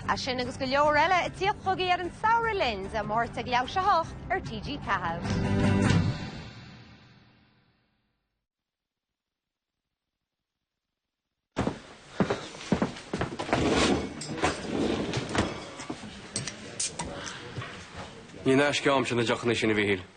É sin agus go leor eile ag tíocht chugaibh ar an samhradh linn, Dé Máirt ag leathuair tar éis a 8 ar TG4. Ní in aisce a'msa na deochanna sin, a Mhíchíl.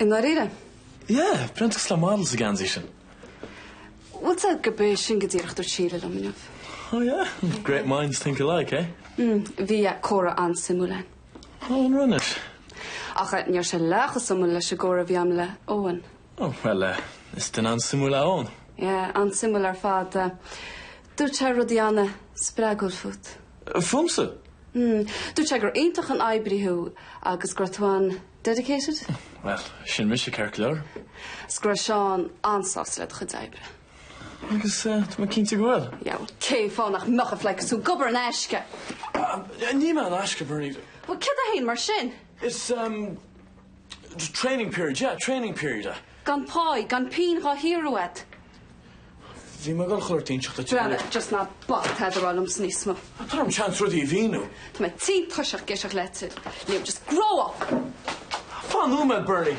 I ndáiríre. Yeah, breathnaíonn tú cosúil le model sa ngeansaí sin. Bhfuil a fhios agat gurb é sin go díreach a dúirt Síle liom inniu. Oh yeah? Great minds think alike, eh? Mm, bhí comhrá an-suimiúil againn. Oh, an raibh, anois? Ach ní raibh sé leath chomh suimiúil leis an gcomhrá a bhí agam le Eoin. Oh, bhuel eh, is duine an-suimiúil é Eoin. Yeah, an-suimiúil ar fad. Dúirt sé rudaí an-spreagúil fút. Fúmsa? Mmm. Dúirt sé gur iontach an oibrí thú agus go raibh tú an-dedicated? Bhuel, sin mise, ceart go leor. Is go raibh Seán an-sásta le do chuid oibre. Agus tá mé cinnte go bhfuil. Yeah, bhuel, cén fáth nach mbeadh a phleidhce is tú ag obair in aisce? Níl mé in aisce, Bernie. Bhuel, céard é féin mar sin? Is Training period, yeah, training period, eh. Gan pá, gan pingin dhá shaothrú agat. Bhí mé ag goil chuile shórt a inseacht timpeall ar. Breathnaigh, just ná bac tada a rá liomsa níos mó. Tabhair dhom seans rudaí a mhíniú. Tá mé tinn tuirseach ag éisteacht leat, Liam, just grow up! Fan nóiméad, Bernie!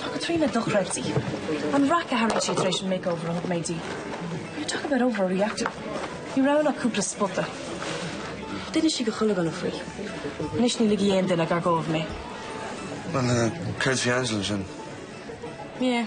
Tá Caitríona dochreidte. An raic a tharraing sí tar éis an makeover a thug mé di. You talk about overreacting. Ní raibh ann ach cúpla spota. D'inis sí do chuile dhuine faoi. Anois ní ligfidh aon duine gar dóibh mé. Bhuel, céard faoi Angela sin? Yeah.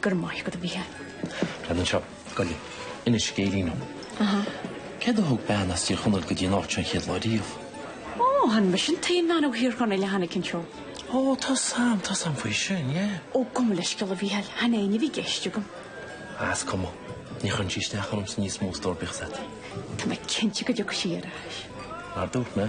Go raibh maith agat, a Mhícheáil. Cad anseo? Gabh i leith. Inis scéilín dom. Aha. Céard a thug bean as Tír Chonaill go dtí an áit seo an chéad lá riamh? Ó, chan mise an t-aon bhean ó Thír Chonaill a tháinig anseo. Ó, tá a fhios agam, tá a fhios agam faoi sin, yeah. Ó, gabh mo leithscéal a Mhícheáil, chan éinne a bhí i gceist agam. Is cuma. Ní chuireann sí isteach ormsa níos mó a stór, bíodh a fhios agat. Tá mé cinnte go dtiocfaidh sí ar ais. Mar dúirt mé,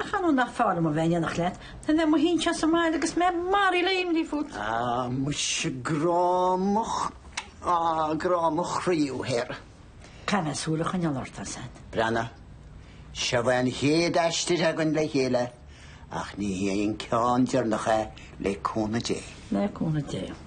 Ach ar ndóigh nach fearr liom a bheith in éineacht leat? Ná a bheith i mo shuí ansin sa mbaile agus mé maraithe le imní fút. Ah, muise grá mo ch-, ah, grá mo chroí thú thoir. Caithfidh mé súil a choinneáil ort, ar sein. Breathnaigh, seo é an chéad aistear againn le chéile, ach ní hé an ceann deireanach é, le cúnamh Dé. Le cúnamh Dé.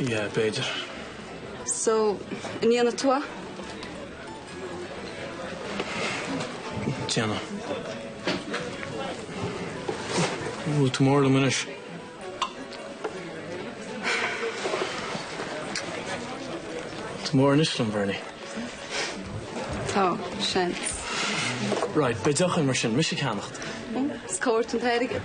Yeah, b'fhéidir. So, an ndéanfaidh tú é? Déanfaidh. Bhfuil tú mór liom anois? Tá tú mór anois liom, a Bherni. Tá, seans. Right, beidh deoch air mar sin, mise ag ceannacht. Is cá bhfuair tú an t-airgead?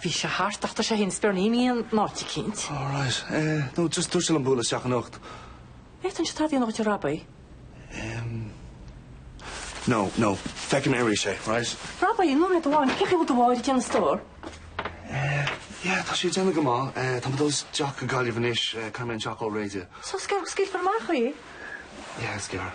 Bhí sé thart ach tá sé fhéin is Berni imithe in áit eicínt. Oh right. Eh, nó just dúirt sé liom bualadh isteach anocht. Eh, an bhféadfainnse tada a dhéanamh dhuit, Robbie? Em, no, no, feicfidh mé aríst é, right? Robbie, ó rud amháin, cén chaoi a bhfuil do mháthair ag déanamh, a stór? Eh, yeah, tá sí ag déanamh go maith. Eh, tá mé ag dul isteach go Gaillimh anois, eh, caithfidh mé an teach a fháil réidh. So is gearr go scaoilfear amach í? Yeah, is gearr.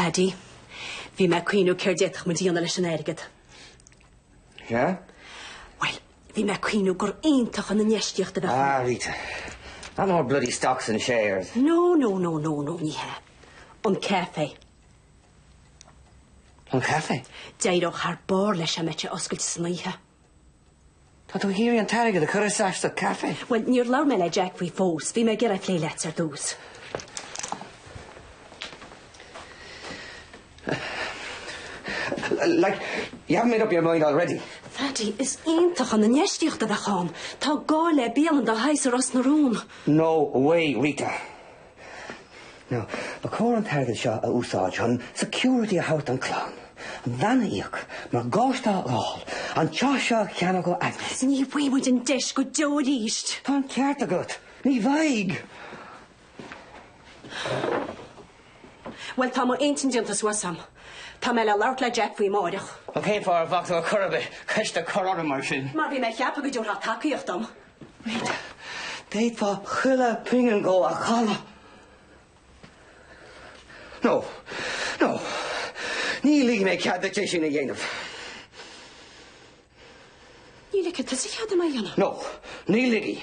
Phaddy, bhí mé ag cuimhneamh céard d'fhéadfadh muid a dhéanamh leis an airgead. Sea? Bhuel, Bhí mé ag cuimhneamh gur iontach an infheistíocht a bheadh ann. Ah, Rita. Not more bloody stocks and shares. No, no, no, no, no, ní hea. An caife. An caife? D'éireodh thar barr leis dá mbeadh sé oscailte san oíche. Tá tú ag iarraidh an t-airgead a chur isteach sa caife. Bhuel, níor labhair mé le Jack faoi fós. Bhí mé ag iarraidh é a phlé leatsa ar dtús. Like, you haven't made up your mind already? Pheaidí, is iontach an infheistíocht a bheadh ann. Tá gá le bialann dá shaghas i Ros na Rún. No way, Rita. Now, ba chóir an t-airgead seo a úsáid chun security a thabhairt don chlann, an veain a íoc, morgáiste a fháil, an teach seo a cheannach ó Agnes. Ní bhfaighidh muid an deis go deo arís. Tá an ceart agat. Ní bhfaighidh. Bhuel, tá m'intinn déanta suas a'm. Tá mé le labhairt le Jack faoi amáireach. Bhuel, cén fáth ar bhac tú ar chor ar bith ceist a chur orm mar sin? Mar bhí mé ag ceapadh go dtabharfá tacaíocht dom. Bhuel, d'fhéadfá chuile phingin dhó a chailleadh. No, no, ní ligfidh mé cead duit é sin a dhéanamh. Ní ligfidh tusa cead dom é a dhéanamh? No, ní ligfidh.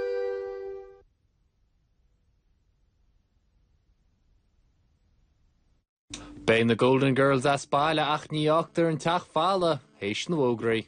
Beidh na Golden Girls as baile ach ní fhágtar an teach falla th'éis na bhfógraí.